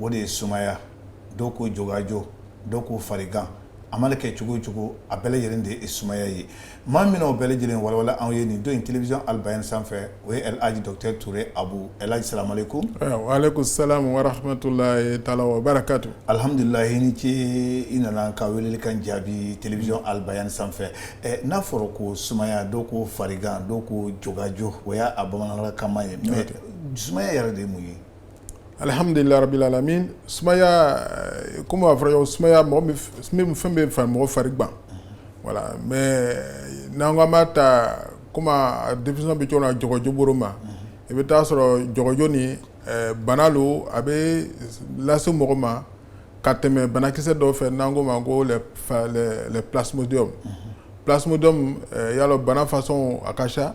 o de ye sumaya dɔw ko jogajo dɔw ko farigan a mana kɛ cogo o cogo a bɛɛ lajɛlen de ye sumaya ye maa min o bɛɛ lajɛlen walawala anw ye nin don in télévision Al Bayan sanfɛ o ye El Hadji Docteur Touré Abu El Hadji salamu alaikum wa alaikum salam wa rahmatullahi ta'ala wa barakatuh alihamdulilahi i ni ce i nana ka weleli kan jaabi télévision Al Bayan sanfɛ n'a fɔra ko sumaya dɔw ko farigan dɔw ko jogajo o y'a bamanankan ye mais sumaya yɛrɛ de mun ye Alihamdulilarabimi sumaya kɔmi b'a fɔra sumaya fɛn bɛ fara mɔgɔ fari wala mɛ n'an ka b'a ta kɔmi denmisɛn bɛ jɔ jɔjɔbo ma i bɛ taaa sɔrɔjɔ ni bana don a bɛ lase mɔgɔ ma ka tɛmɛ banakisɛ dɔw fɛ n'an ko ma ko psdi psd yala banafasɔn a ka ca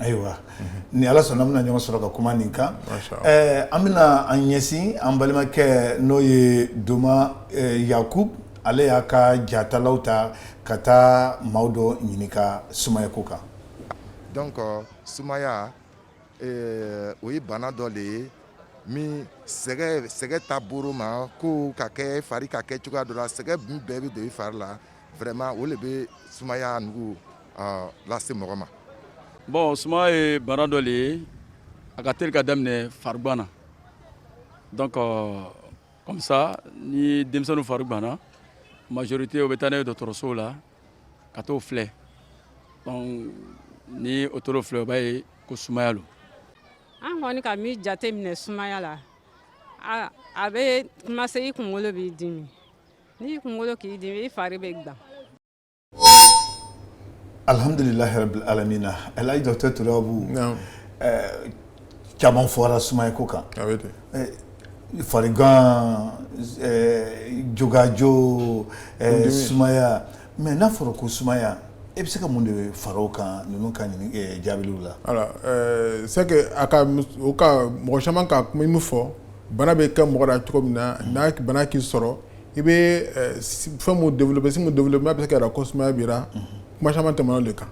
Ayiwa ni ala sɔnna an bɛna ɲɔgɔn sɔrɔ ka kuma nin kan an bɛna an ɲɛsin an balimakɛ n'o ye Donma Yakubu ale y'a ka jatalaw ta ka taa maaw dɔ ɲininka sumaya ko kan donc sumaya o ye bana dɔ de ye min sɛgɛ sɛgɛ ta bolo ma ko ka kɛ fari ka kɛ cogoya dɔ la sɛgɛn min bɛɛ bɛ don i fari la vraiment o de bɛ sumaya nugu lase mɔgɔ ma bon sumaya ye bana dɔ de ye a ka teli ka daminɛ farigan na donc comme ça ni denmisɛnnin fari ganna majorité o bɛ taa n'a ye dɔgɔtɔrɔsow la ka t'o filɛ ni o taara o filɛ o b'a ye ko sumaya lo an kɔni ka min jate minɛ sumaya la a bɛ commencer i kunkolo b'i dimi n'i kunkolo k'i dimi i fari bɛ gan Alihamdulilahi rabil alamina El Hadji Docteur Touré Abu caman fɔra sumaya ko kan farigan jogajo sumaya mais n'a fɔra ko sumaya e bɛ se ka mun de fara o kan ninnu ka jaabiliw la c'est que a ka mɔgɔ caman ka kuma min fɔ bana bɛ kɛ mɔgɔ la cogo min na ni bana k'i sɔrɔ i bɛ fɛn min développer signe min développer n'a bɛ se k'a yira ko sumaya b'i ra kuma caman tɛmɛna o de kan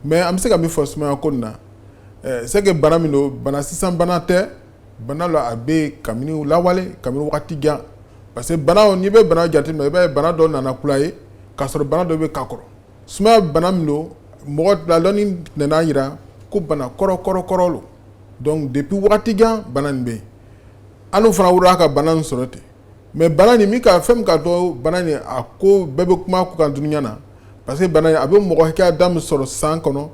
mais an bɛ se ka min fɔ sumaya ko nin na c'est que bana min don bana sisan bana tɛ bana la a bɛ kabini lawale kabini waati jan parce que bana n'i bɛ bana jateminɛ i b'a ye bana dɔ nana kula ye k'a sɔrɔ bana dɔ bɛ ka kɔrɔ sumaya bana min don mɔgɔ la dɔnni nana a jira ko bana kɔrɔ lo donc depuis waati jan bana bɛ yen an fana wolola ka bana sɔrɔ ten mais bana nin min ka fɛn min ka dɔn bana nin a ko bɛɛ bɛ kuma a kun kan dunya na parce que bana nin a bɛ mɔgɔ hakɛya da min sɔrɔ san kɔnɔ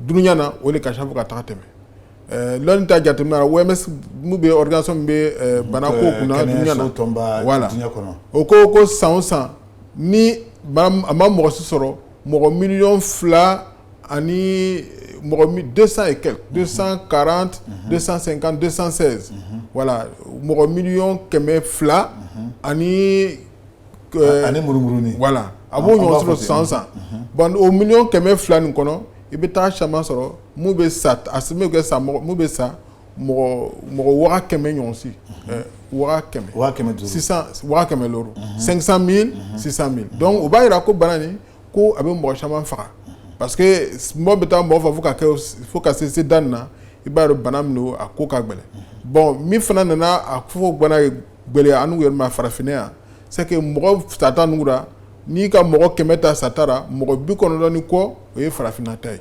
dunya na o de ka ca fo ka taa tɛmɛ dɔnni ta jateminɛ na OMS min bɛ organisation min bɛ bana ko kunna dunya na voilà o ko ko san o san ni a ma mɔgɔ si sɔrɔ mɔgɔ miliyɔn fila ani mɔgɔ dɛsɛsa ye kɛ donsan karan dɛsɛsan sen kan dɛsɛsansɛ wala mɔgɔ miy kɛmɛ fila ani ani muru wala a b'o ɲɔgɔn sɔrɔ san san ban o mi kɛmɛ fila nin kɔnɔ i bɛ taa caman sɔrɔ bɛ sa a bɛ sa bɛ sa mɔgɔ mɔgɔ kɛmɛ ɲɔgɔnsi kɛmɛ sisan kɛmɛ sisan sisan o b'a jira ko bana ko a bɛ mɔgɔ caman faga parce que min bɛ taa mɔgɔ faga fo fo ka se se da nin na i b'a dɔn bana min don a ko ka gɛlɛn bon min fana nana a fɔ bana gɛlɛya an yɛrɛ ma farafinna yan c'est que mɔgɔ sata nugu ra n'i ka mɔgɔ kɛmɛ ta sata ra mɔgɔ bi kɔnɔntɔn ni kɔ o ye farafinna ta ye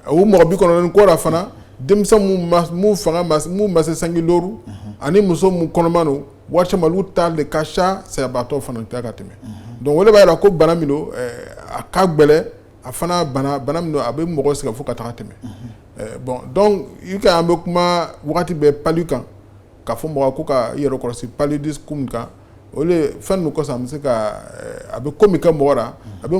A o mɔgɔ bi kɔnɔntɔn ni kɔ ra fana denmisɛnnin fanba min ma se sanji duuru ani muso minnu kɔnɔma don waati caman olu ta de ka ca sayabaatɔ fana ta ka tɛmɛ donc o de b'a jira ko bana min don a ka gɛlɛn a fana bana min don a bɛ mɔgɔ sɛgɛn fo ka taa tɛmɛ bon donc i an bɛ kuma waati bɛɛ pali kan k'a fɔ mɔgɔw ko ka yɛrɛ kɔrɔsi paludisme kan o fɛn ninnu kɔsɔn a bɛ se ka a bɛ ko min kɛ mɔgɔ la a bɛ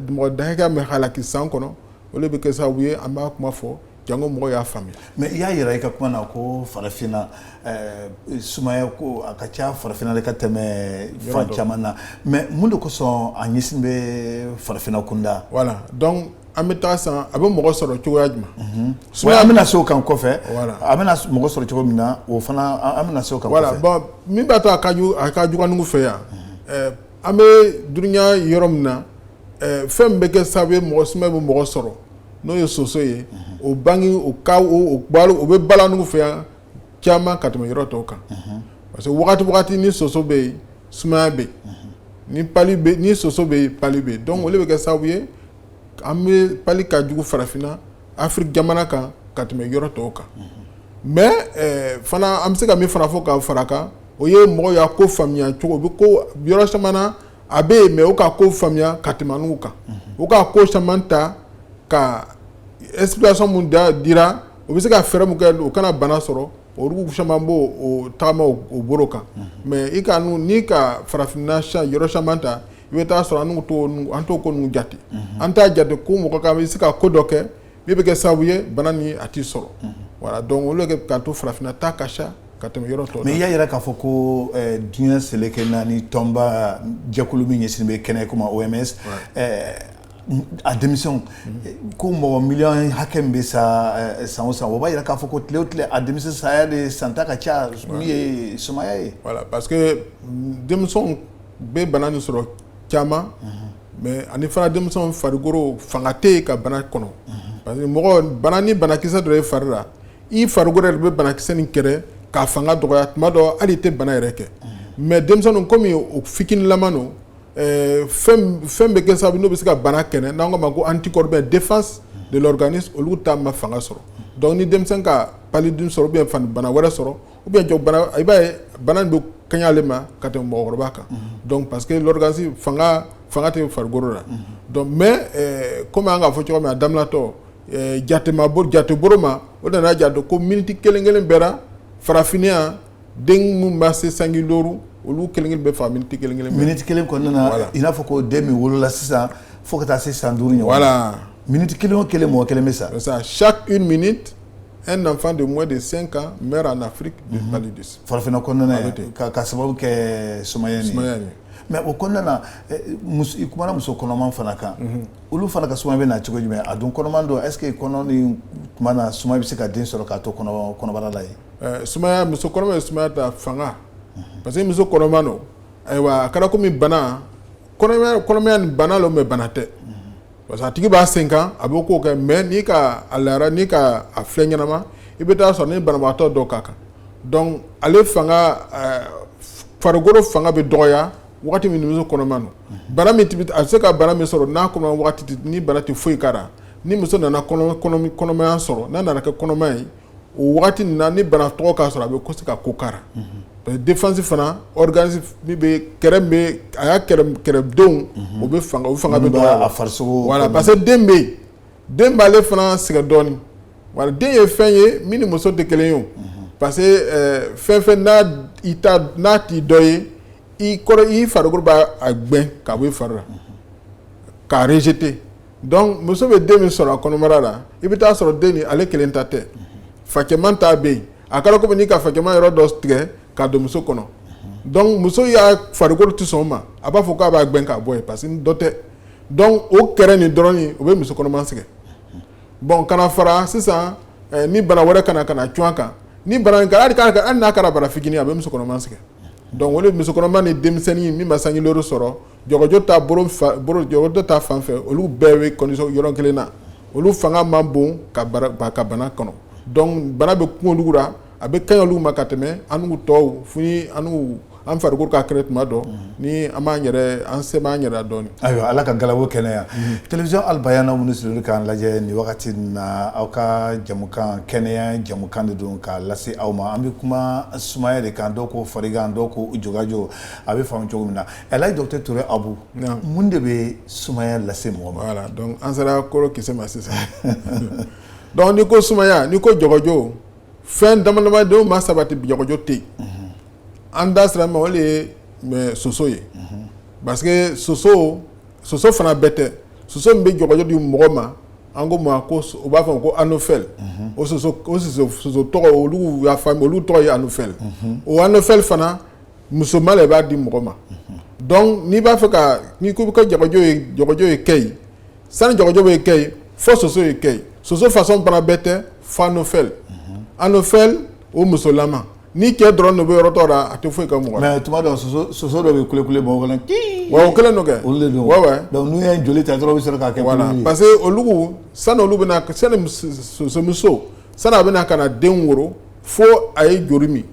mɔgɔ da hakɛ min halaki san kɔnɔ o de bɛ kɛ sababu ye an b'a kuma fɔ jango mɔgɔ y'a faamuya mais i y'a jira i ka kuma na ko farafinna eh, sumaya ko a ka ca farafinna de ka tɛmɛ fan caman na mais mun de kosɔn a ɲɛsin bɛ farafinna kunda voilà donc an bɛ taa san a bɛ mɔgɔ sɔrɔ cogoya jumɛn mhm. sumaya an bɛna se o kan kɔfɛ a bɛna mɔgɔ sɔrɔ cogo min na o fana an bɛna se o kan voilà bon min b'a to a ka jugu anugu fɛ yan mhm. eh, an bɛ dunya yɔrɔ min na fɛn bɛ kɛ sababu ye mɔgɔ sumaya bɛ mɔgɔ sɔrɔ n'o ye soso ye o bange o bɛ bala anugu fɛ yan caman ka tɛmɛ yɔrɔ tɔw kan parce que wagati o wagati ni soso bɛ yen sumaya bɛ yen ni soso bɛ yen pali bɛ yen donc o de bɛ kɛ sababu ye an bɛ pali ka jugu farafinna Afiriki jamana kan ka tɛmɛ yɔrɔ tɔw kan mais fana an bɛ se ka min fana fɔ ka fara kan o ye mɔgɔw y'a ko faamuya cogo bɛ ko yɔrɔ caman na a bɛ yen mais u ka ko faamuya ka tɛmɛ anugu kan u ka ko caman ta ka explication minnu dira u bɛ se ka fɛɛrɛ min kɛ u kana bana sɔrɔ olu caman b'o taama u bolo kan mais i ka n'i ka farafinna yɔrɔ caman ta i bɛ taa sɔrɔ an t'o ko ninnu jate an t'a jate ko mɔgɔ k'i bɛ se ka ko dɔ kɛ min bɛ kɛ sababu ye bana nin a t'i sɔrɔ voilà donc olu kɛ k'a to farafinna ta ka ca ka tɛmɛ yɔrɔ tɔw OMS y'a yira k'a fɔ ko diɲɛ seleke naani tɔnba jɛkulu min ɲɛsinnen bɛ kɛnɛya ko ma OMS a denmisɛnw ko mɔgɔ miliyɔn hakɛ min bɛ sa san o san o b'a yira k'a fɔ ko tile o tile a denmisɛn saya de san tan ka ca min ye sumaya ye voilà parce que denmisɛnw bɛ bana nin sɔrɔ caman mais ani fana denmisɛnw farikolo fanga tɛ yen ka bana kɔnɔ parce que mɔgɔ bana ni banakisɛ don e fari la i farikolo yɛrɛ bɛ banakisɛ nin kɛlɛ k'a fanga dɔgɔya tuma dɔ hali i tɛ bana yɛrɛ kɛ mais denmisɛnninw kɔmi o fitiniman don fɛn bɛ kɛ sababu n'o bɛ se ka bana kɛlɛ n'an k'a ma ko anticorps ou bien défense de l'organisme olu ta ma fanga sɔrɔ donc ni denmisɛn ka paludisme sɔrɔ ou bien bana wɛrɛ sɔrɔ ou bien jɔ bana i b'a ye bana nin bɛ kɛɲa ale ma ka tɛmɛ mɔgɔkɔrɔba kan donc parce que l'organisme fanga tɛ farikolo la donc mais kɔmi an k'a fɔ cogo min a daminɛtɔ jatema jatebolo ma o nana jate don ko miniti kelen kelen bɛɛ la farafinna den minnu ma se sanji duuru olu kelen bɛ faa miniti kelen kelen miniti kelen kɔnɔna i n'a fɔ ko den min wolola sisan fo ka taa se san duuru voilà miniti kelen o kelen mɔgɔ kelen bɛ sa chaque une minute un enfant de moins de cinq ans meurt en Afrique de farafinna kɔnɔna ka sababu kɛ sumaya ye mais o kɔnɔna na i kumana muso kɔnɔma fana kan olu fana ka sumaya bɛ na cogo jumɛn a dun kɔnɔma don est-ce que kɔnɔ nin tuma na sumaya bɛ se ka den sɔrɔ k'a to kɔnɔbara la ye sumaya muso kɔnɔma ye sumaya ta fanga parce que muso kɔnɔma don ayiwa a kɛra kɔmi bana kɔnɔmaya nin bana lo mais bana tɛ parce que a tigi b'a sen kan a b'o kow kɛ mais n'i ka a lajɛ n'i ka a filɛ ɲɛnama i bɛ taa sɔrɔ ni banabaatɔ dɔ ka kan donc ale fanga farikolo fanga bɛ dɔgɔya waati min ni muso kɔnɔma don bana min a bɛ se ka bana min sɔrɔ n'a kɔnɔ waati nin bana tɛ foyi k'a la ni muso nana kɔnɔmaya sɔrɔ n'a nana kɛ kɔnɔma ye o waati nin na ni bana tɔgɔ k'a sɔrɔ a bɛ se ka ko k'a la défense fana organisme min bɛ a ya kɛlɛdenw u bɛ fanga u fanga bɛ fari voilà parce que den bɛ den b'ale fana sɛgɛn dɔɔnin voilà den ye fɛn ye min ni muso tɛ kelen ye o parce que fɛn o fɛn n'a t'i dɔ ye i kɔrɔ i farikolo b'a gɛn k'a bɔ i fari la k'a rejeter donc muso bɛ den min sɔrɔ a kɔnɔbara la i bɛ taa sɔrɔ den nin ale kelen ta tɛ fa cɛman ta bɛ yen a kɛra kɔmi n'i ka fa cɛman yɔrɔ dɔ tigɛ k'a don muso kɔnɔ donc muso ya farikolo tɛ sɔn o ma a b'a fɔ k'a b'a gɛn k'a bɔ yen parce que dɔ tɛ donc o kɛlɛ nin dɔrɔn o bɛ muso kɔnɔma sɛgɛn bon ka na fara sisan ni bana wɛrɛ ka na ka na cun a kan ni bana hali n'a kɛra bana fitinin a bɛ muso kɔnɔma sɛgɛn donc muso kɔnɔma ni denmisɛnnin min ma sanji sɔrɔ jɔgɔjɔ ta bolo fan bolo jɔgɔjɔ ta fan fɛ olu bɛɛ bɛ condition yɔrɔ kelen na olu fanga man bon ka bara ba ka bana kɔnɔ donc bana bɛ kun olu la a bɛ kaɲa olu ma ka tɛmɛ an n'u tɔw fo ni an n'u an farikolo ka kɛnɛ tuma dɔ ni an b'an yɛrɛ an se b'an yɛrɛ la dɔɔni. Ayiwa Ala ka galabu kɛnɛya télévision Al Bayana minnu sigilen don k'an lajɛ nin wagati in na aw ka jɛmukan kɛnɛya jɛmukan de don k'a lase aw ma an bɛ kuma sumaya de kan dɔw ko farigan dɔw ko jɔgɔjɔ a bɛ faamu cogo min na Elhaji docteur Touré Abu mun de bɛ sumaya lase mɔgɔ ma voilà donc an sera kɔrɔ kisɛ ma sisan donc ni ko sumaya ni ko jɔgɔjɔ fɛn damadama dɔw ma sabati jɔgɔjɔ tɛ an da sira ma o de ye soso ye parce que soso soso fana bɛɛ tɛ soso min bɛ jɔgɔjɔ di mɔgɔ ma an ko ma ko u b'a fɔ a ma ko anophèle o soso tɔgɔ olu olu tɔgɔ ye anophèle o anophèle fana musoman de b'a di mɔgɔ ma donc n'i b'a fɛ ka n'i ko bɛ ka jɔgɔjɔ ye kɛ yen sani jɔgɔjɔ bɛ kɛ yen fo soso ye kɛ yen soso façon fana bɛɛ tɛ fo anophèle anophèle o musolama ni cɛ dɔrɔn de bɛ yɔrɔ dɔ la a tɛ foyi kɛ mɔgɔ tuma dɔ soso dɔ bɛ kule kule mɔgɔ kɔnɔ wa o kelen don kɛ donc n'u ye joli ta dɔrɔn u bɛ sɔrɔ k'a kɛ parce que olu sani olu bɛ sosomuso sani a bɛna ka na den woro fo a ye joli min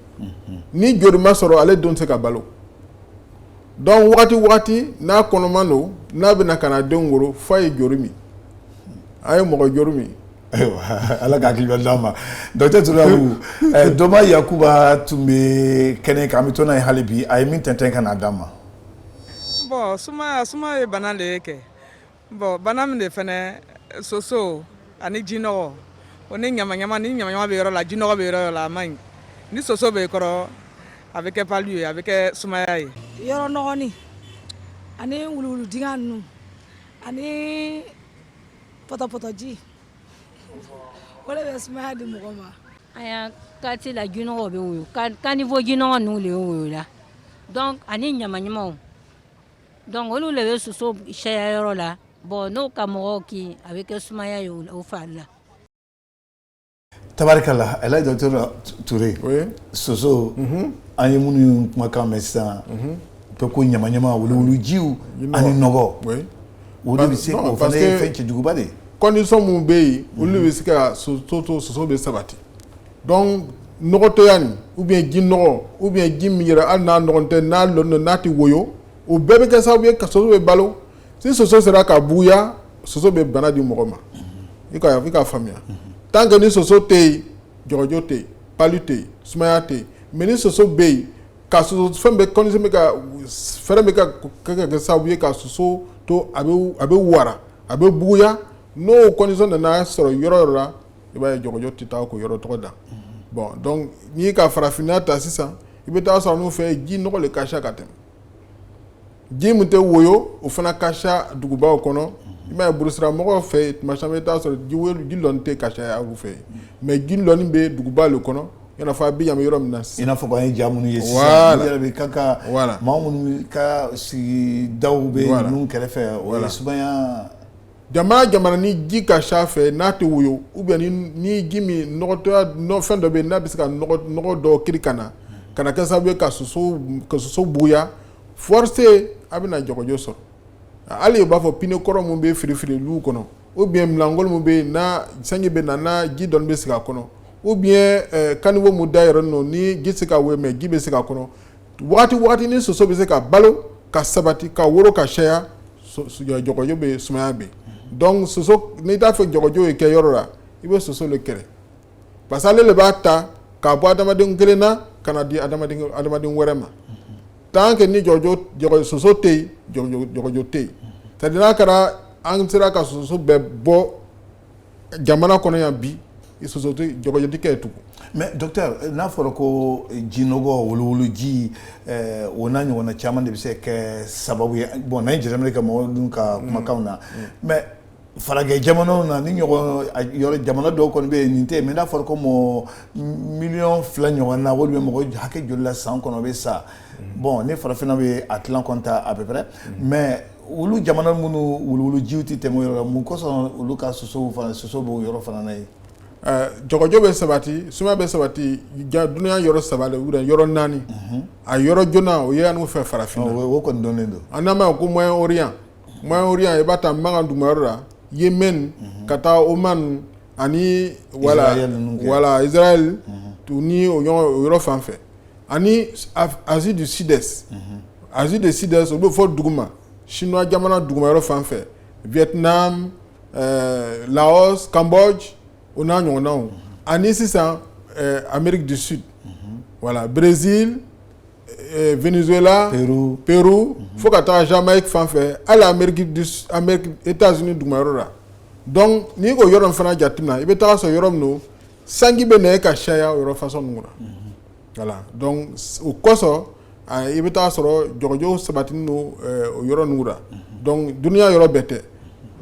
ni joli ma sɔrɔ ale den tɛ se ka balo donc waati waati n'a kɔnɔma don n'a bɛna ka na denw wolo fo a ye joli min a ye mɔgɔ joli min ala k'a hakili d'an ma docteur Touré Abu Doma Yakuba tun bɛ kɛnɛ kan an bɛ to n'a ye hali bi a ye min tɛntɛn ka n'a d'an ma bon suma ye bana de ye kɛ Bon bana min de fɛnɛ soso ani jinɔgɔ o ni ɲamaɲama ni ɲamaɲama bɛ yɔrɔ la jinɔgɔ bɛ yɔrɔ la a man ɲi ni soso bɛ kɔrɔ a bɛ kɛ palu ye a bɛ kɛ sumaya ye yɔrɔ nɔgɔnin ani wuluwulu dingɛ ninnu ani pɔtɔpɔtɔji o de bɛ sumaya di mɔgɔ ma an ya quartier la jinɔgɔ bɛ woyo caniveau jinɔgɔ ninnu de ye voilà donc ani ɲamaɲamaw Donc olu de bɛ soso caya yɔrɔ la bon n'o ka mɔgɔw kin a bɛ kɛ sumaya ye o fari la tabarikala Elhaji docteur Touré soso an ye minnu kumakan mɛn sisan ko ko ɲamaɲama wuluwulujiw ani nɔgɔ o de bɛ se fɛn cɛjuguba de condition mun bɛ yen olu bɛ se ka soso to soso bɛ sabati donc nɔgɔtɔya nin ou bien ji nɔgɔ ou bien ji min yɛrɛ hali n'a nɔgɔ tɛ n'a lɔ n'a tɛ woyo o bɛɛ bɛ kɛ sababu ye ka soso bɛ balo si soso sera ka buguya soso bɛ bana di mɔgɔ ma i ka i ka faamuya tant que ni soso tɛ yen jɔgɔjɔ tɛ yen palu tɛ yen sumaya tɛ yen mais ni soso bɛ yen ka soso fɛn bɛ condition bɛ ka fɛɛrɛ bɛ ka kɛ kɛ sababu ye ka soso to a bɛ wara a bɛ buguya n'o condition nana sɔrɔ yɔrɔ yɔrɔ la i b'a ye jɔgɔjɔ tɛ taa ko yɔrɔ tɔgɔ da bon donc n'i ka farafinna ta sisan i bɛ taa sɔrɔ n'u fɛ ji nɔgɔ de ka ca ka tɛmɛ ji min tɛ woyo o fana ka ca dugubaw kɔnɔ i b'a ye burusira mɔgɔw fɛ tuma caman i bɛ taa sɔrɔ ji lɔni tɛ ka ca olu fɛ yen mais ji lɔni bɛ duguba de kɔnɔ a bɛ yan yɔrɔ min na i n'a fɔ k'an ye ja minnu ye i yɛrɛ bɛ kan ka maa minnu ka sigida bɛ ninnu kɛrɛfɛ o jama jamana ni ji ka ca fɛ n'a tɛ woyo ou bien ni ji min fɛn dɔ bɛ yen n'a bɛ se ka nɔgɔ dɔ kiri ka na ka na kɛ sababu ye ka soso buguya forcé a bɛna jɔgɔjɔ sɔrɔ hali u b'a fɔ pine kɔrɔ minnu bɛ firifiri lu kɔnɔ ou bien minɛnkolon min bɛ yen sanji bɛ na ji dɔɔni bɛ sigi a kɔnɔ ou bien caniveau min da yɔrɔ ninnu ni ji tɛ se ka woyo mais ji bɛ se a kɔnɔ waati waati ni soso bɛ se ka balo ka sabati ka woro ka caya jɔgɔjɔ bɛ sumaya bɛ donc soso n'i t'a fɛ jɔgɔjɔ ye kɛ yɔrɔ la i bɛ soso le kɛlɛ parce que ale de b'a ta k'a bɔ adamaden kelen na ka na di adamaden wɛrɛ ma tant que ni jɔgɔjɔ soso tɛ yen jɔgɔjɔ tɛ yen c'est à dire n'a kɛra an sera ka soso bɛɛ bɔ jamana kɔnɔ yan bi soso tɛ jɔgɔjɔ tɛ kɛ yen tugun mais docteur n'a fɔra ko jinɔgɔ wuluwulu ji eh, o n'a ɲɔgɔnna caman de bɛ se kɛ sababu ye bon n'an ye jateminɛ kɛ mɔgɔ dun ka mm. kumakanw na mm. mais farajɛ jamanaw na nin ɲɔgɔn yɔrɔ jamana dɔw kɔni bɛ yen nin tɛ yen mais n'a fɔra ko mɔgɔ miliyɔn fila ɲɔgɔn na ou bien mɔgɔ hakɛ joli la san kɔnɔ bɛ sa bon ni farafinna bɛ a tilan kɔnta à peu près mais olu jamana minnu wuluwulu jiw tɛ tɛmɛ o yɔrɔ mun kosɔn olu ka sosow fana soso b'o yɔrɔ fana na yen jɔgɔjɔ bɛ sabati sumaya bɛ sabati dunya yɔrɔ saba le yɔrɔ naani a yɔrɔ joona o ye anw fɛ farafinna o kɔni dɔnnen don an n'a ma ko moyen orient moyen orient i b'a ta makan duguma yɔrɔ la yemen ka taa oman ani wala wala israël ni o yɔrɔ fan fɛ ani asie du sud est asie du sud est o bɛ fɔ duguma chinois jamana duguma yɔrɔ fan fɛ vietnam euh, laos cambodge o n'a ɲɔgɔnnaw ani sisan euh, amérique du sud voilà brésil euh, venezuela pérou pérou fo ka taga jamaïque fan fɛ hali amérique du amérique états unis duguma yɔrɔ la donc n'i k'o yɔrɔ in fana jateminɛ i bɛ taga sɔrɔ yɔrɔ min don sanji bɛ na ka caya o yɔrɔ façon nugu ra voilà donc o kosɔn i bɛ taa sɔrɔ jɔgɔjɔ sabatinin don o yɔrɔ nugu ra donc dunya yɔrɔ bɛɛ tɛ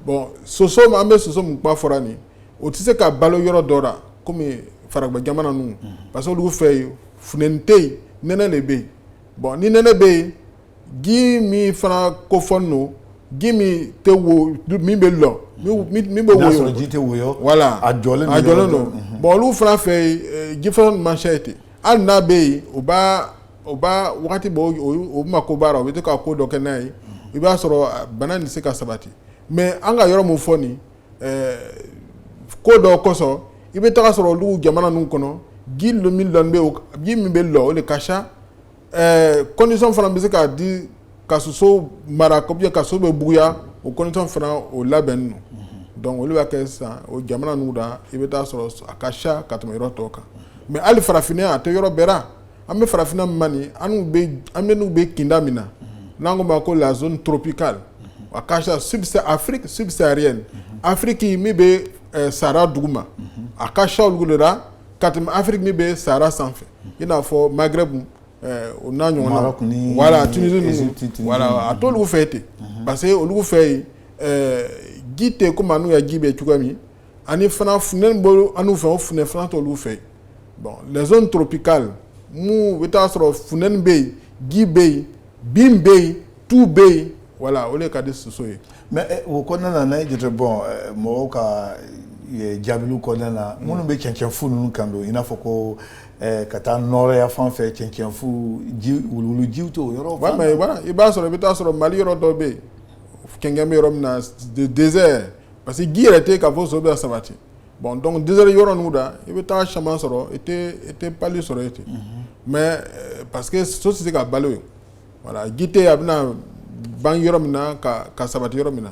bon soso an bɛ soso min kuma fɔra nin o tɛ se ka balo yɔrɔ dɔ la kɔmi faragbɛ jamana ninnu parce que olu fɛ yen funteni tɛ yen nɛnɛ de bɛ yen bon ni nɛnɛ bɛ yen ji min fana kofɔnin don ji min tɛ wo min bɛ lɔ min bɛ woyo ji tɛ woyo voilà a jɔlen a jɔlen don bon olu fana fɛ yen ji fana man ca ten hali n'a bɛ yen u b'a wagati b' u mako baara u bɛ to ka ko dɔ kɛ n'a ye i b'a sɔrɔ bana nin tɛ se ka sabati mais an ka yɔrɔ min fɔ nin ko dɔ kosɔn i bɛ taga sɔrɔ olu jamana ninnu kɔnɔ ji min bɛ lɔ o de ka condition fana bɛ se k'a di ka soso mara et puis ka soso bɛ buguya o condition fana o labɛnnin don donc olu b'a kɛ sisan o jamana ninnu da i bɛ taa sɔrɔ a ka ca ka tɛmɛ yɔrɔ tɔw kan mais hali farafinna a tɛ yɔrɔ bɛɛ ra an bɛ farafinna min na nin an bɛ kinda min na n'an k'o ma ko la zone tropicale a ka ca afiriki subsaharienne afiriki min bɛ Sahara duguma a ka ca olu de la ka tɛmɛ afiriki min bɛ Sahara sanfɛ i n'a fɔ Maghreb o n'a ɲɔgɔnna voilà Tunisie ninnu voilà a t'olu fɛ ten parce que olu fɛ yen ji tɛ komi an n'u ya ji bɛ cogoya min ani fana funteni bɛ an n'u fɛ o funteni fana t'olu fɛ bon les zones tropicales mun i bɛ taa sɔrɔ funteni bɛ yen ji bɛ yen bin bɛ yen tu bɛ yen voilà o de ka di soso ye mais o kɔnɔna na n'an y'a jate bon mɔgɔw ka jaabiw kɔnɔna na minnu bɛ cɛncɛnfu ninnu kan don i n'a fɔ ko ka taa nɔrɔya fan fɛ cɛncɛnfu ji wuluwulu jiw t'o yɔrɔ i b'a sɔrɔ i bɛ taa sɔrɔ Mali yɔrɔ dɔ bɛ yen kɛnkɛn bɛ yɔrɔ min na désert parce que ji yɛrɛ tɛ k'a fɔ soso bɛ sabati bon donc désert yɔrɔ ninnu da i bɛ taa caman sɔrɔ i tɛ pali sɔrɔ yen ten mais parce que soso tɛ se ka balo yen voilà ji tɛ a bɛna bange yɔrɔ min na ka sabati yɔrɔ min na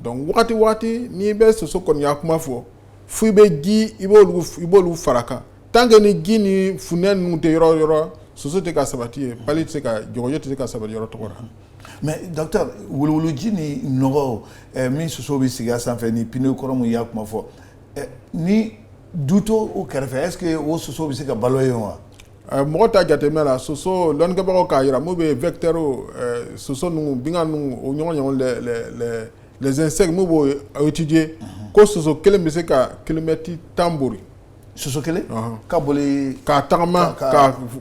donc waati waati n'i bɛ soso kɔni ya kuma fɔ fo i bɛ ji i i b'olu fara a kan tant que ni ji ni funɛ ninnu tɛ yɔrɔ o yɔrɔ soso tɛ se ka sabati yen pali tɛ se ka jɔgɔjɔ tɛ se ka sabati yɔrɔ tɔgɔ la mais docteur wuluwuluji ni nɔgɔ min soso bɛ sigi a sanfɛ ni pneu kɔrɔ mun y'a kuma fɔ ni du t'o kɛrɛfɛ est-ce que o soso bɛ se ka balo yen wa Mɔgɔ ta jateminɛ la soso dɔnkɛbagaw k'a jira bɛ vtɛ soso zsɛ b'o tɛji ko soso kelen bɛ se ka kelenmɛti tanuru soso kelen ka ka tagama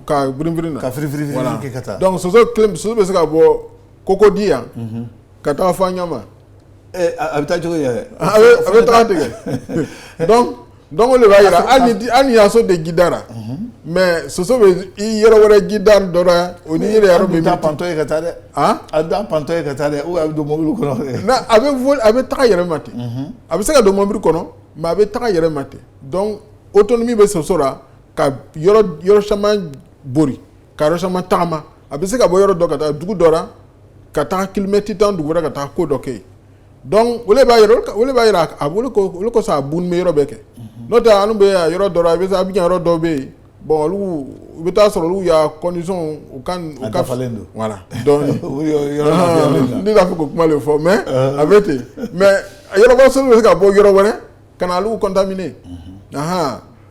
karinrin ka kafrinrin soso bɛ se ka bɔ koko di yan ka taa fɔ ɲa a bɛ taa cogo a bɛ taa tigɛ Donc o de b'a jira hali n'i ya so tɛ jida ra mais soso bɛ i yɔrɔ wɛrɛ jida dɔ ra o yɛrɛ pantɔ ye ka taa dɛ a t'a pantɔ ye ka taa dɛ a bɛ don mobili kɔnɔ a bɛ a bɛ taga yɛrɛ ma ten a bɛ se ka don mobili kɔnɔ mais a bɛ taga yɛrɛ ma ten donc autonomie bɛ soso la ka yɔrɔ caman boli ka yɔrɔ caman tagama a bɛ se ka bɔ yɔrɔ dɔ ka taa dugu dɔ ra ka taa kilomɛti tan dugu ra ka taa ko dɔ kɛ yen donc o b'a yɔrɔ b'a jira o le kosɔn a bunni bɛ yɔrɔ bɛɛ kɛ n'o tɛ an bɛ yɔrɔ dɔ ra Abidjan yɔrɔ dɔ bɛ yen bon olu u bɛ taa sɔrɔ olu ya condition u ka dafalen don voilà donc ne t'a fɛ k'o kuma de fɔ mais a bɛ ten mais yɔrɔba soso bɛ se ka bɔ yɔrɔ wɛrɛ ka na olu contaminer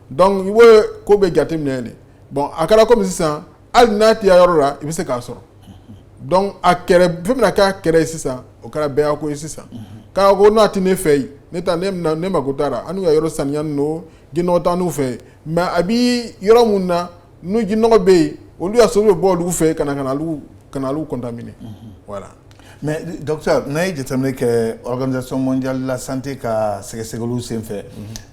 donc i b'o ko bɛɛ jateminɛ de bon a kɛra kɔmi sisan hali n'a tɛ yɔrɔ la i bɛ se k'a sɔrɔ donc a fɛn bɛna k'a kɛlɛ ye sisan o kɛra bɛɛ ya ko ye sisan k'a ko n'a tɛ ne fɛ yen ne taa ne ne mako t'a ra anu ka yɔrɔ saniyanin don jinɔgɔ t'anu fɛ yen mais a bɛ yɔrɔ min na n'u jinɔgɔ bɛ yen olu ya soso bɛ bɔ olu fɛ ka na ka na olu contaminer voilà mais docteur n'a ye jateminɛ kɛ organisation mondiale de la santé ka sɛgɛsɛgɛli senfɛ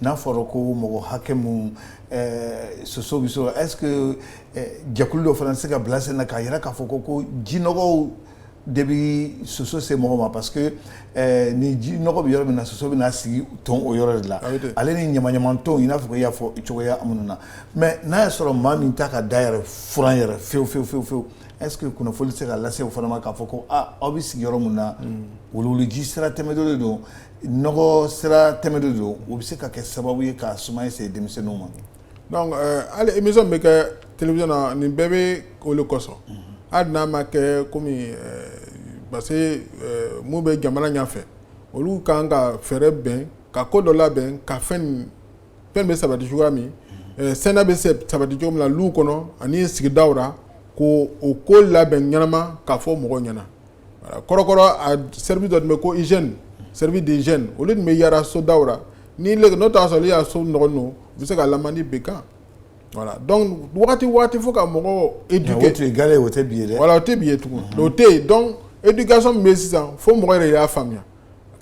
n'a fɔra ko mɔgɔ hakɛ min Ɛɛ soso bɛ sɔrɔ est ce que jɛkulu dɔ fana tɛ se ka bila sen na k'a jira k'a fɔ ko ko jinɔgɔw de bɛ soso se mɔgɔ ma parce que ni jinɔgɔ bɛ yɔrɔ min na soso bɛna sigi ton o yɔrɔ de la ale ni ɲamanɲaman ton i n'a fɔ ko i y'a fɔ cogoya minnu na mais n'a y'a sɔrɔ maa min t'a ka da yɛrɛ furan yɛrɛ fewu fewu fewu fewu est ce que kunnafoni tɛ se ka lase o fana ma k'a fɔ ko aa aw bɛ sigi yɔrɔ min na wuluwuluji sira tɛmɛtɔ de don nɔgɔ sira tɛmɛtɔ don o bɛ se ka kɛ sababu ye ka sumaya se denmisɛnninw ma donc hali émission min bɛ kɛ télévision na nin bɛɛ bɛ o de kosɔn hali n'a ma kɛ komi parce que minnu bɛ jamana ɲɛfɛ olu ka kan ka fɛɛrɛ bɛn ka ko dɔ labɛn ka fɛn fɛn bɛ sabati cogoya min saniya bɛ sabati cogo min na lu kɔnɔ ani sigidaw la ko o ko labɛn ɲɛnama k'a fɔ mɔgɔw ɲɛna kɔrɔkɔrɔ service dɔ tun bɛ ko hygiène service d'hygiène olu tun bɛ yaara sodaw ra ni n'o taa sɔrɔ i ya so nɔgɔnin don u bɛ se ka lamandi bin i kan voilà donc waati waati fo ka mɔgɔw éduquer o tɛ bi ye voilà o tɛ bi ye tugun o tɛ yen donc éducation min bɛ sisan fo mɔgɔ yɛrɛ y'a faamuya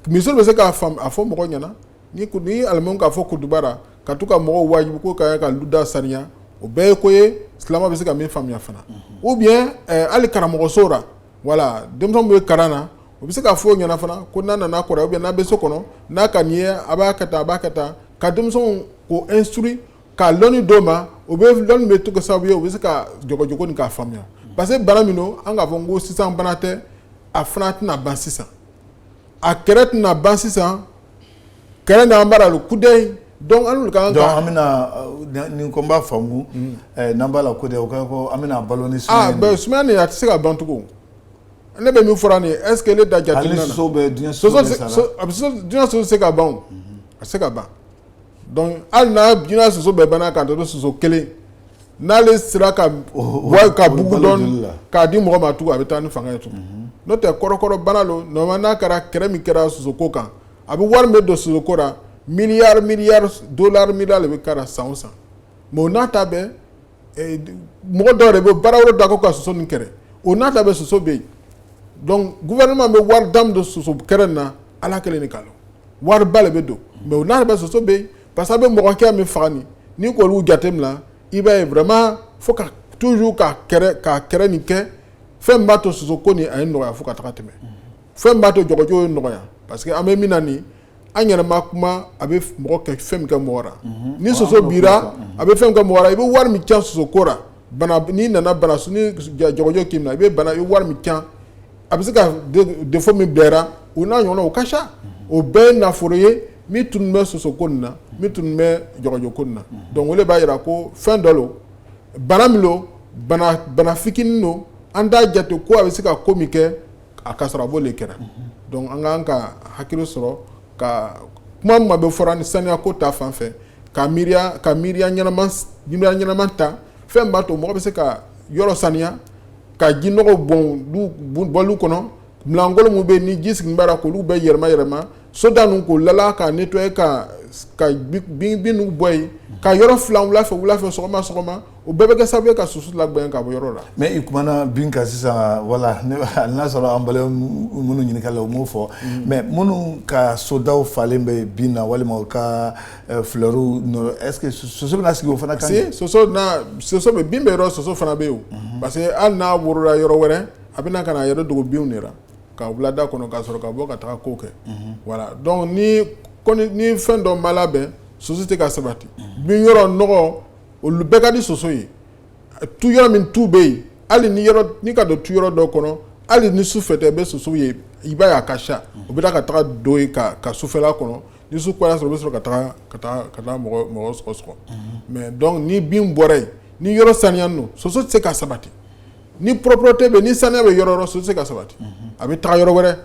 misiri bɛ se k'a a fɔ mɔgɔ ɲɛna ni ni alimami k'a fɔ kutuba ra ka to ka mɔgɔw waajuli ko ka ka luda saniya o bɛɛ ye ko ye silamɛ bɛ se ka min faamuya fana ou bien hali karamɔgɔso la voilà denmisɛnw bɛ kalan na o bɛ se ka fɔ o ɲɛna fana ko n'a nana kɔrɔ ou bien n'a bɛ so kɔnɔ n'a ka nin ye a b'a kɛ tan a b'a kɛ tan ka denmisɛnw ko instruire ka lɔnni d'o ma o bɛ lɔnni bɛ to kɛ sababu ye u bɛ se ka dɔgɔdɔgɔnin k'a faamuya parce que bana min don an k'a fɔ ko sisan bana tɛ a fana tɛna ban sisan a kɛlɛ tɛna ban sisan kɛlɛ an bara ku an bɛna ko n b'a faamumu n'an b'a la ko an bɛna balo a tɛ se ka dɔncogo ne bɛ min fɔra nin esseke ne da jate a bɛ se ka ban a se ka ban hali soso bɛɛ banna kan soso kelen n'ale sera ka ka bugu dɔɔni k'a di mɔgɔ ma tugun a bɛ taa ni fanga ye tugun mhm. n'o tɛ kɔrɔkɔrɔ bana don normalement n'a kɛra kɛrɛ min kɛra sosoko kan a bɛ wari min bɛ don sosoko la miliyari miliyari dolari miliyari de bɛ kɛra san o san mais o n'a ta bɛɛ eh, mɔgɔ dɔw de bɛ baara wɛrɛ da ko ka soso nin kɛrɛ o n'a ta bɛɛ soso bɛ yen donc gouvernement bɛ wari dama don soso kɛrɛ nin na ala kelen de k'a dɔn wariba de bɛ don mais o n'a ta bɛɛ soso bɛ yen parce que a bɛ mɔgɔ hakɛ min faga nin n'i k'olu jateminɛ i b'a ye vraiment fo ka toujours ka kɛrɛ ka kɛrɛ nin kɛ fɛn b'a to soso ko nin a ye nɔgɔya fo ka taga tɛmɛ fɛn b'a to jɔgɔjɔ ye nɔgɔya parce que an bɛ min na nin an yɛrɛma kuma a bɛ mɔgɔ kɛ fɛn min kɛ mɔgɔ la mhm. ni soso b'i ra a bɛ fɛn min kɛ mɔgɔ la i bɛ wari min cɛn soso ko la bana n'i nana bana ni jɔgɔjɔ k'i minɛ i bɛ bana i bɛ wari min cɛn a bɛ se ka défaut min bil'i la o n'a ɲɔgɔnna o ka ca mhm. o bɛɛ ye nafolo ye min tun bɛ soso ko nin na min tun bɛ jɔgɔjɔ ko nin na donc o de b'a jira ko fɛn dɔ don bana min don bana fitinin don an t'a jate ko a bɛ se ka ko min kɛ a ka sɔrɔ a b'o de kɛra donc an k'an ka hakili sɔrɔ ka kuma min bɛ fɔra ni saniya ko ta fan fɛ ka mi ka miiriya ɲɛnama ta fɛn b'a to mɔgɔ bɛ se ka yɔrɔ saniya ka ji nɔgɔ bɔ lu kɔnɔ milankolon min bɛ ni ji sigilen b'a la k'olu bɛɛ yɛlɛma yɛlɛma so da ninnu k'o lala k'a nettoyer ka ka bin bin ninnu bɔ yen ka yɔrɔ filan wula fɛ wula fɛ sɔgɔma sɔgɔma o bɛɛ bɛ kɛ sababu ye ka soso lagbɛn ka bɔ yɔrɔ la. mais i kumana bin kan sisan voilà hali n'a sɔrɔ an balimaw minnu ɲininkali la u m'o fɔ mais minnu ka sodaw falen bɛ bin na walima u ka eh, fleurs nɔrɔ est ce que soso bɛna sigi o fana kan. si soso na soso bɛ bin bɛ yɔrɔ soso fana bɛ yen o parce que hali n'a worola yɔrɔ wɛrɛ a bɛna ka na a yɛrɛ dogo binw de la. ka wulada kɔnɔ ka sɔrɔ ka bɔ ka taa ko kɛ voilà donc ni fɛn dɔ ma labɛn soso tɛ se ka sabati bin yɔrɔ nɔgɔ olu bɛɛ ka di soso ye tu yɔrɔ min tu bɛ yen hali ni n'i ka don tu yɔrɔ dɔ kɔnɔ hali ni su fɛ tɛ i bɛ soso ye i b'a ye a ka ca u bɛ taa ka taa don yen ka ka sufɛla kɔnɔ ni su y'a sɔrɔ u bɛ sɔrɔ ka taa mɔgɔ sɔgɔ sɔgɔ mais donc ni bin bɔra yen ni yɔrɔ saniyalen don soso tɛ se ka sabati ni propreté bɛ ni saniya bɛ yɔrɔ yɔrɔ soso tɛ se ka sabati a bɛ taa yɔrɔ wɛrɛ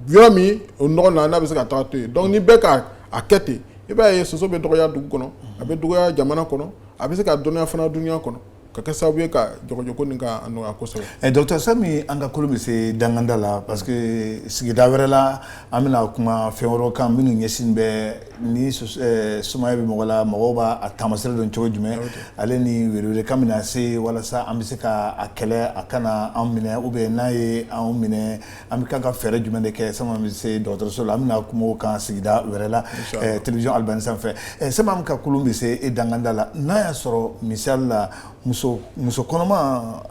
yɔrɔ min o nɔgɔ na n'a bɛ se ka taa to yen donc ni bɛɛ ka a kɛ ten i b'a ye soso bɛ dɔgɔya dugu kɔnɔ a bɛ dɔgɔya jamana kɔnɔ a bɛ se ka dɔɔniya fana dunya kɔnɔ ka kɛ sababu ye ka jɔgɔjɔko nin k'a nɔgɔya kosɛbɛ docteur Sami an ka kulun bɛ se dankanda la parce que sigida wɛrɛ la An bɛna kuma fɛn wɛrɛw kan minnu ɲɛsin bɛ ni sumaya bɛ mɔgɔ la mɔgɔ b'a taamaseere dɔn cogo jumɛn ale ni welewelekan bɛna se walasa an bɛ se k' a kɛlɛ a kana an minɛ ou bien n'a ye an minɛ an bɛ kan ka fɛɛrɛ jumɛn de kɛ san'an bɛ se dɔgɔtɔrɔso la an bɛna kuma o kan sigida wɛrɛ la télévision Al Bayane sanfɛ sani an ka kulun bɛ se i danganda la n'a y'a sɔrɔ misali la muso kɔnɔma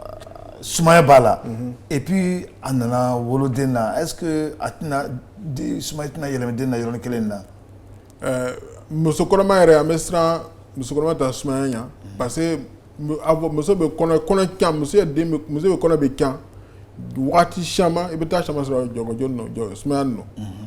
Sumaya b'a la et puis a nana wolo den na est-ce que a tɛna sumaya tɛna yɛlɛmɛ den na yɔrɔnin kelen na muso kɔnɔma yɛrɛ an bɛ siran muso kɔnɔma ta sumaya ɲa parce que muso bɛ muso bɛ kɔnɔ bɛ can waati caman i bɛ taa caman sɔrɔ jɔgɔjɔ sumaya nɔ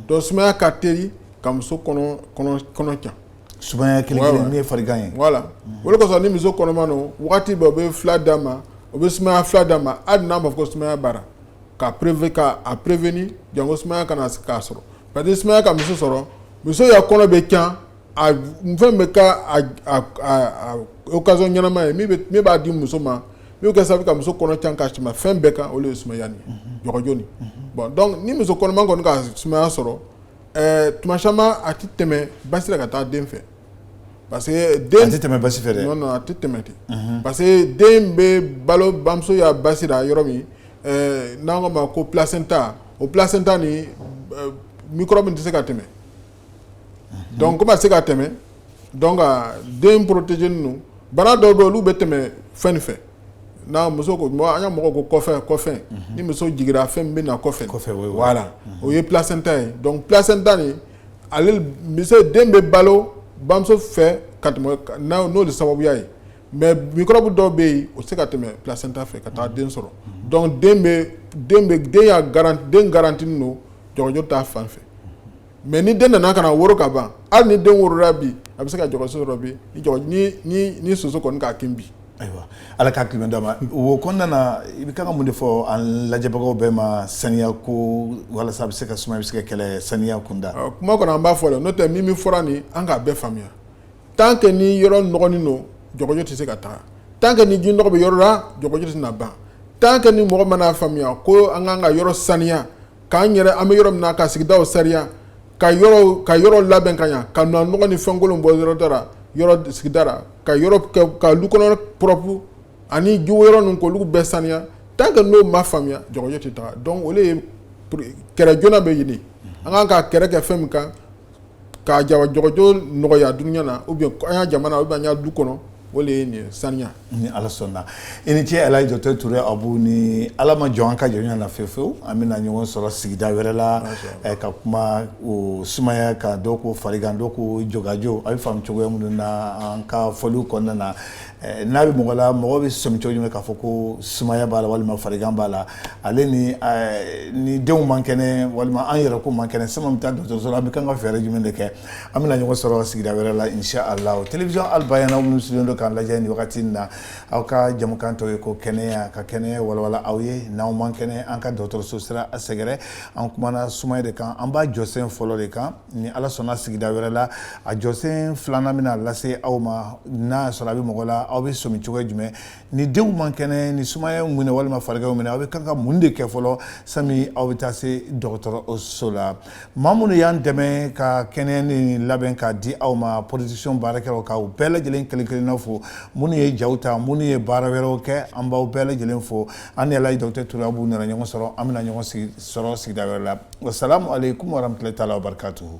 don sumaya ka teri ka muso kɔnɔ can Sumaya kelen min ye farigan ye voilà o le kosɔn ni muso kɔnɔma don waati bɛɛ u bɛ fila d'a ma u bɛ sumaya fila d'a ma hali n'a ma fɔ ko sumaya b'a ra ka a prévenir janko sumaya kana a sɔrɔ parce que sumaya ka muso sɔrɔ muso ya kɔnɔ bɛ can a fɛn bɛ ka occasion ɲɛnama ye min b'a di muso ma n'o kɛ sababu ka muso kɔnɔ can ka tɛmɛ fɛn bɛɛ kan o le ye sumaya jɔgɔjɔ nin bon donc ni muso kɔnɔma kɔni ka sumaya sɔrɔ Ɛɛ tuma caman a tɛ tɛmɛ basi la ka taa den fɛ parce que den tɛ tɛmɛ basi fɛ dɛ non non a tɛ tɛmɛ ten, unhun, parce que den bɛ balo bamuso ya basi la yɔrɔ min ɛɛ n'an k'o ma ko placenta o placenta nin microbe tɛ se ka tɛmɛ, unhun, donc comme a tɛ se ka tɛmɛ donc den protégélen don bana dɔw bɛ yen olu bɛ tɛmɛ fɛn nin fɛ n'a muso ko an ya mɔgɔ ko kɔfɛ kɔfɛ ni muso jiginra fɛn min bɛ na kɔfɛ voilà o ye placenta ye donc placenta nin ale muso den bɛ balo bamuso fɛ ka tɛmɛ n'o de sababuya ye mais microbe dɔw bɛ yen o se ka tɛmɛ placenta fɛ ka taa den sɔrɔ donc den bɛ den bɛ den garantinen don jɔgɔjɔ ta fan fɛ mais ni den nana ka na woro ka ban hali ni den worola bi a bɛ se ka jɔgɔjɔ sɔrɔ bi ni soso kɔni k'a kin bi ayiwa ala k'a kelen d'a ma o kɔnɔna na i bɛ kan ka mun de fɔ an lajɛbagaw bɛɛ ma saniya ko walasa a bɛ se ka sumaya bɛ se ka kɛlɛ saniya kunda kuma kɔnɔ an b'a fɔ le n'o tɛ min min fɔra nin an k'a bɛɛ faamuya tant que ni yɔrɔ nɔgɔnin don jɔgɔjɔ tɛ se ka taa tant que ni ji nɔgɔ bɛ yɔrɔ la jɔgɔjɔ tɛna ban tant que ni mɔgɔ ma na faamuya ko an kan ka yɔrɔ saniya k'an yɛrɛ an bɛ yɔrɔ min na ka sigidaw saniya ka ka yɔrɔw labɛn ka ɲa ka nɔgɔ ni fɛnkolon bɔ yɔrɔ da ra yɔrɔ sigida ra ka lu kɔnɔ propre ani ji yɔrɔ ninnu k'olu bɛɛ saniya tant que n'o ma faamuya jɔgɔjɔ tɛ taga donc o le ye kɛlɛ joona bɛ ɲini an kan ka kɛlɛ kɛ fɛn min kan ka jokajo nɔgɔya dunya na ou bien an ya jamana ou bien an ya du kɔnɔ o de ye nin saniya ni ala sɔnna i ni ce alaji docteur ture abu ni ala ma jɔ an ka jɔnya na fewu fewu an bɛna ɲɔgɔn sɔrɔ sigida wɛrɛ la ka kuma o sumaya kan dɔw ko farigan dɔw ko jokajo a bɛ faamu cogoya minnu na an ka fɔliw kɔnɔna na n'a bɛ mɔgɔ la mɔgɔ bɛ sɔmi cogo jumɛn k'a fɔ ko sumaya b'a la walima farigan b'a la hali ni denw man kɛnɛ walima an yɛrɛ ko man kɛnɛ sani an bɛ taa dɔgɔtɔrɔso la an bɛ kan ka fɛɛrɛ jumɛn de kɛ an bɛna ɲɔgɔn sɔrɔ sigida wɛrɛ la inshallah télévision al bayana minnu sigilen don k'an lajɛ nin wagati in na aw ka jɛmukan tɔgɔ ye ko kɛnɛya ka kɛnɛya walawala aw ye n'aw man kɛnɛ an ka dɔgɔtɔrɔso sira a sɛgɛrɛ an kumana sumaya de kan an b'a jɔsen fɔlɔ de kan ni ala sɔnna sigida wɛrɛ la a jɔsen filanan bɛna lase aw ma n'a sɔrɔ a bɛ mɔgɔ la aw bɛ sɔmi cogo jumɛn ni denw man kɛnɛ ni sumaya minɛ walima farigan y'u minɛ aw bɛ kan ka mun de kɛ fɔlɔ sani aw bɛ taa se dɔgɔtɔrɔso la maa minnu y'an dɛmɛ ka kɛnɛya nin labɛn k'a di aw ma production baarakɛlaw k'aw bɛɛ lajɛlen kelenkelenna fo minnu ye jaw ta minnu ye baara wɛrɛw kɛ an b'aw bɛɛ lajɛlen fo an ni alaji docteur ture abu nana ɲɔgɔn sɔrɔ an bɛna ɲɔgɔn sɔrɔ sigida wɛrɛ la wasalamu aleykum warahmatulayi taala wabarikatuhu